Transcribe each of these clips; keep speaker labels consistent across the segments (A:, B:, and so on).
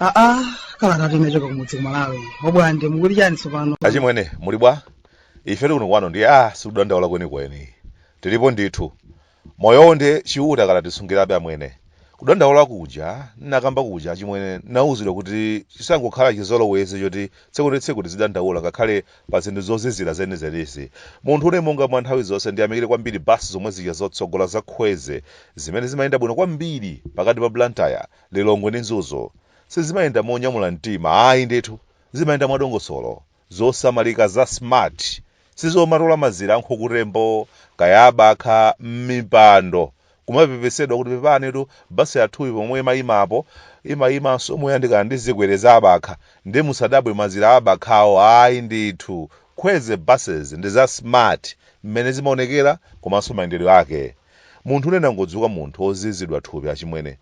A: aa kalatatu inachoka kumudzi ku Malawi obwande mukuti chani tsopano achimwene muli bwa
B: ifetu kuno kwanu ndi a sikudandaula kwenikweni tilipo ndithu Moyowo nde Chiuta akadatisungirabe amwene. Kudandaula kuja nnakamba kuja achimwene nnauzidwa kuti chisangokhala chizolowezi choti tsiku ndi tsiku tizidandaula ngakhale pa zinthu zozizira zenizenizi. Munthune monga mwa nthawi zonse ndiyamikire kwambiri bus zomwe zija zotsogola za Kwezy zimene zimayenda bwino kwambiri pakati pa Blantyre, Lilongwe ndi Mzuzu. Sizimayenda monyamula mtima ayi ndithu, zimayenda mwadongosolo. Zosamalika za smart sizomatola mazira a nkhukutembo kaya abakha mmipando kumapepesedwa kuti pepanitu bus yathuyi pomwe imayimapo imayimanso moyandikana ndi zikwere za abakha nde musadabwe mazira abakhawo ayi ndithu Kwezy buses ndi za smart mmene zimaonekera komanso mayendedwe ake munthune nnangodzuka munthu ozizidwa thupi achimwene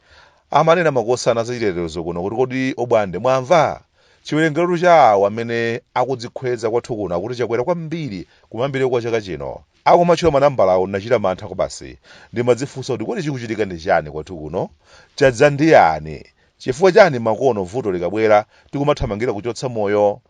B: amanena makosana zachitetezo kuno kuti kodi obwande mwamva? Chiwerengerotu cha awo amene akudzikhweza kwathu kuno akuti chakwera kwambiri kumayambiriro kwa chaka chino. Akumatchula manambalawo ndinachita mantha kwabasi. Ndimadzifunsa kuti kodi chikuchitika ndi chani kwathu kuno? Chadza ndi yani? Chifukwa chani makono vuto likabwera tikumathamangira kuchotsa moyo?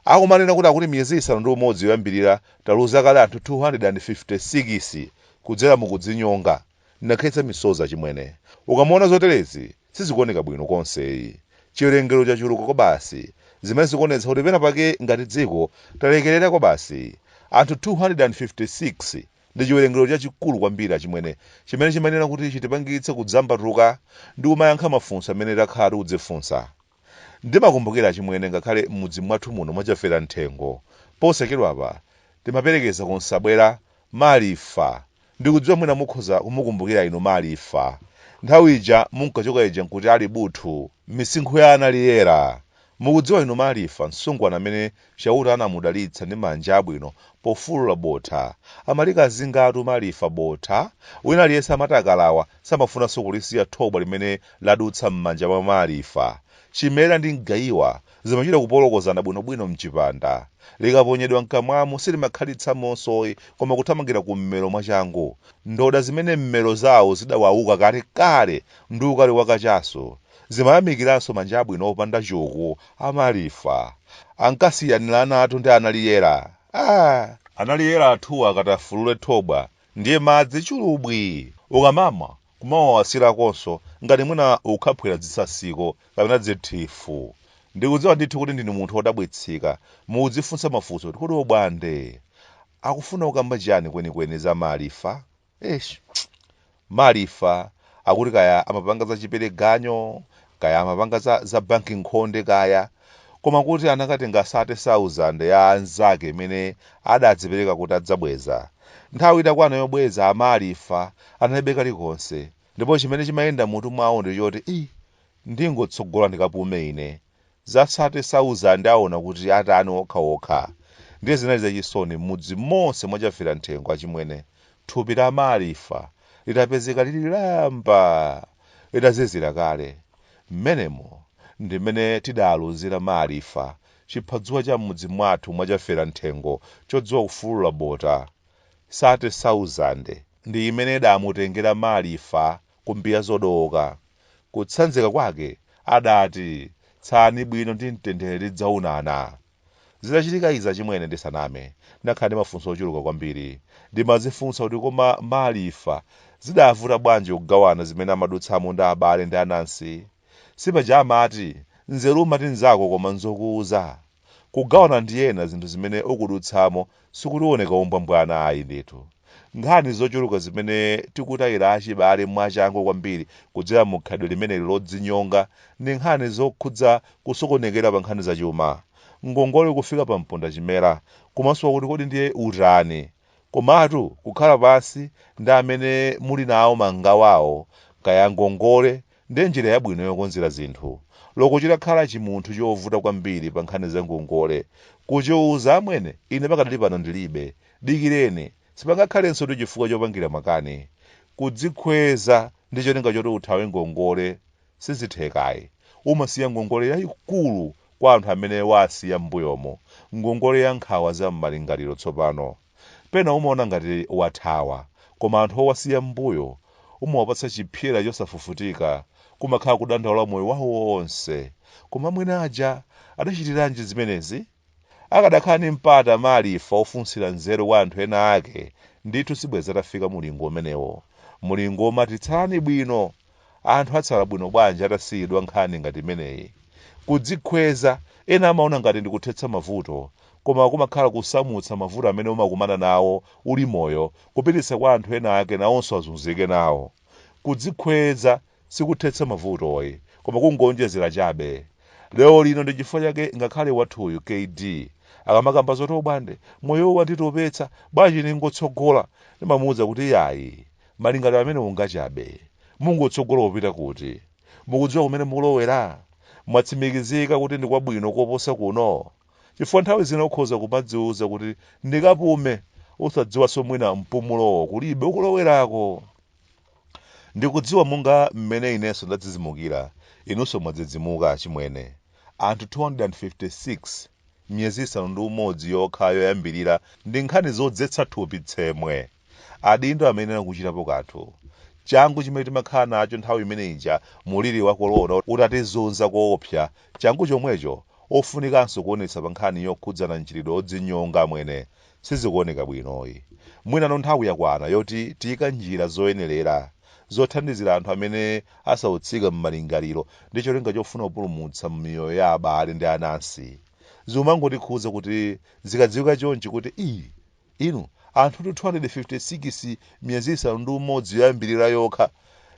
B: Akumanena kuti akuti miyezi isanu ndi umodzi yoyambirira taluza kale anthu 256 kudzera mu kudzinyonga. Ndinakhetsa misozi achimwene. Ukamaona zoterezi. Sizikuoneka bwino konseyi. Chiwerengero chachuluka kwabasi, zimene zikuonetsa kuti pena pake ngati dziko talekerera kwabasi. Anthu 256 ndi chiwerengero chachikulu kwambiri achimwene chimene chimayenera kuti chitipangitse kudzambatuka ndi kumayankha mafunso amene takhala tikudzifunsa. Ndimakumbukira achimwene ngakhale m'mudzi mwathu muno mwa Chafera Mthengo posachedwapa timaperekeza ku Nsabwera Malifa ndikudziwa mwina mukhoza kumukumbukira inu Malifa nthawi ija munkachoka ija nkuti ali buthu misinkhu ya a Naliyera mukudziwa inu Malifa msungwana amene Chauta anamudalitsa ndi manja abwino pofulula botha. Amalikazingatu Malifa botha. Wina aliyense amati akalawa samafunanso kulisiya thobwa limene ladutsa m'manja mwa Malifa. Chimera ndi mgaiwa zimachita kupolokozana bwinobwino m'chipanda. Likaponyedwa m'kamwamu silimakhalitsamonsoyi koma kuthamangira kum'mero mwachangu. Ndoda zimene m'mero zao zidawauka kalekale ndi ukali wa kachasu zimayamikiranso manja abwino opanda chuku A Malifa ankasiyanilanatu ndi a Naliyela aah. A Naliyela athuwa akati afulule thobwa ndiye madzi chulubwi ukamamwa kumawawasilakonso ngati mwina ukukhaphwila dzitsatsiko kapena dzithifu ndikudziwa ndithu kuti ndinu munthu odabwitsika mukudzifunsa mafunso kuti kodi obwande akufuna kukamba chiyani kwenikweni za Malifa? Eish. Malifa akuti kaya amapanga za chipereganyo, kaya amapanga za, za banki nkhonde kaya. Koma kuti anakatenga 30,000 ya anzake imene adadzipereka kuti adzabweza. Nthawi itakwana yobweza, a Malifa analibe kalikonse. Ndipo chimene chimayenda m'mutu mwawo ndi choti, Ii, ndingotsogola ndikapume ine. za sate sauzande aona kuti atani okha okha ndiye zinali zachisoni mmudzi monse mwa chaferamthengo achimwene thupi la malifa litapezeka lili lamba litazizira kale mmenemo ndi mmene tidaluzira malifa chiphadzuwa cha mmudzi mwathu mwa chaferamthengo chodziwa kufulula bota sate sauzande ndi imene idamutengera malifa ku mbiya zodooka. Kutsanzika kwake, adati, Tsalani bwino ndi mtendere tidzaonana. Zitachitika izi achimwene ndisaname, ndakhala ndi mafunso ochuluka kwambiri. Ndimadzifunsa kuti koma Malifa zidavuta bwanji kugawana zimene amadutsamo ndi abale ndi anansi? Sipaja amati, nzeru umati nzako koma nzokuuza? Kugawana ndi ena zinthu zimene ukudutsamo sikuti uoneka wombwambwana ayi ndithu. Nkhani zochuluka zimene tikutayira achibale mwachangu kwambiri kudzera mu khalidwe limeneli lodzinyonga ndi nkhani zokhudza kusokonekera pa nkhani zachuma. Ngongole kufika pa mpondachimera, kumasowa kuti kodi ndiye utani? Komatu kukhala pansi ndi amene muli nawo mangawawo kaya ngongole ndi njira yabwino yokonzera zinthu. Loko chitakhala chimunthu chovuta kwambiri pa nkhani za ngongole kuchiuza amwene ine pakadali pano ndilibe, dikireni, sipangakhalensotu chifukwa chopangira makani kudzikhweza ndi cholinga choti uthawe ngongole. Sizitheka ayi. Umasiya ngongole yaikulu kwa anthu amene waasiya m'mbuyomo, ngongole ya nkhawa za m'malingaliro tsopano. Pena umaona ngati wathawa, koma anthu owasiya m'mbuyo umawapatsa chipsyera chosafufutika, kumakhala kudandaula moyo wawo wonse. Koma amwene aja adachitiranji zimenezi? Akadakhala ndi mpata a Malifa wofunsira nzeru kwa anthu ena ake, ndithu sibwenzi atafika mulingo umenewo. Mulingo womati tsalani bwino! Anthu atsala bwino bwanji atasiyidwa nkhani ngati imeneyi? Kudzikhweza, ena amaona ngati ndi kuthetsa mavuto, koma kumakhala kusamutsa mavuto amene umakumana nawo uli moyo kupititsa kwa anthu ena ake nawonso azunzike nawo. Kudzikhweza! sikuthetsa mavutoyi koma kungoonjezera chabe. Lero lino ndi chifukwa chake ngakhale wathuyu kd akamakamba zoti Obwande moyo wanditopetsa bwanji ndingotsogola ndimamuuza kuti yayi malingaliro amenewo ngwachabe. Mungotsogola kupita kuti? Mukudziwa kumene mukulowera? Mwatsimikizika kuti ndi kwabwino koposa kuno? Chifukwa nthawi zina ukhoza kumadziuza kuti ndikapume usadziwanso mwina mpumulowo kulibe ukulowerako. Ndikudziwa monga mmene inenso ndadzidzimukira, inunso mwadzidzimuka, achimwene. Anthu 256 miyezi isanu ndi umodzi yokha yoyambirira ndi nkhani zodzetsa thupi tsemwe. Adindo amayenera kuchitapo kanthu. Changu chimene timakhala nacho nthawi imene ija muliri wa kolona utatizunza koopsa, changu chomwecho ofunikanso kuonetsa pankhani yokhudzana mchitidwe odzinyonga, amwene. Sizikuoneka bwinoyi. Mwinano nthawi yakwana yoti tiike njira zoyenelera zothandizira anthu amene asautsika mmalingaliro ndi cholinga chofuna kupulumutsa miyoyo ya abale ndi anansi. Zimangotikhudza kuti zikadziwika chonchi kuti ii inu anthutu 256 miyezi isanu ndi umodzi yoyambilira yokha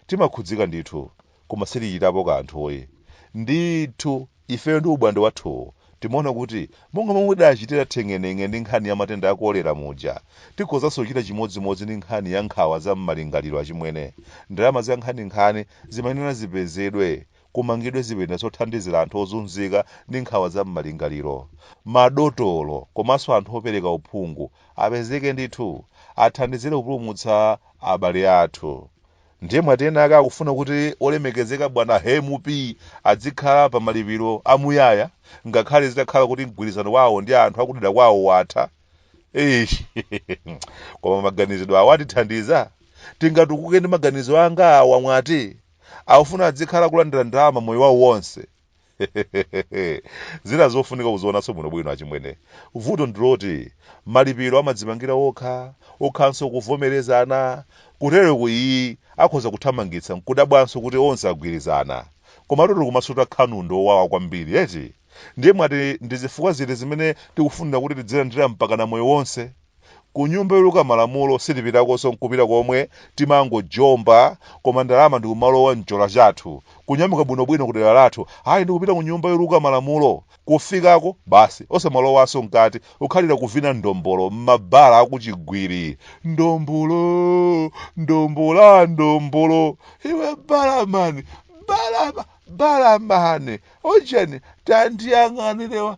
B: timakhudzika ndithu. koma sitichitapo kanthuyi. Ndithu, ifeyo ndi Obwande wathuwu timaona kuti monga momwe tidachitira theng'eneng'e ndi nkhani ya matenda a kolera muja, tikhozanso kuchita chimodzimodzi ndi nkhani ya nkhawa za m'malingaliro. Achimwene, ndalama zankhaninkhani zimayenera zipezedwe, kumangidwe zipinda zothandizira anthu ozunzika ndi nkhawa za m'malingaliro. Madotolo komanso anthu opereka uphungu apezeke ndithu, athandizire kupulumutsa abale athu. Ndiye mwati ena ake akufuna kuti olemekezeka bwana MP adzikhala pa malipiro a muyaya ngakhale zitakhala kuti mgwirizano wawo ndi anthu akudera kwawo watha? Eish! Koma maganizidwe awa atithandiza? Tingatukuke ndi maganizo onga awa mwati? Akufuna adzikhala kulandira ndalama moyo wawo wonse? zina zofunika kuzionanso bwinobwino achimwene vuto ndiloti malipiro amadzipangira okha okhanso kuvomerezana kutereku iyayi akhoza kuthamangitsa nkudabwanso kuti onse agwirizana komatu kumasuta khanundu owawa kwambiri eti ndiye mwati ndi zifukwa ziti zimene tikufunira kuti tidzilandira mpakana moyo wonse Kunyumba yoluka malamulo sitipitakonso nkupita komwe timangojomba koma ndalama ndikumalowa mchola chathu kunyamuka bwino bwino kudera lathu ayi ndikupita kunyumba yoluka malamulo kufikako basi osamalowanso mkati kukhalira kuvina ndombolo mmabala akuchigwiri ndombolo ndombola ndombolo iwe balamani balama balamani ujeni tandiyang'anirewa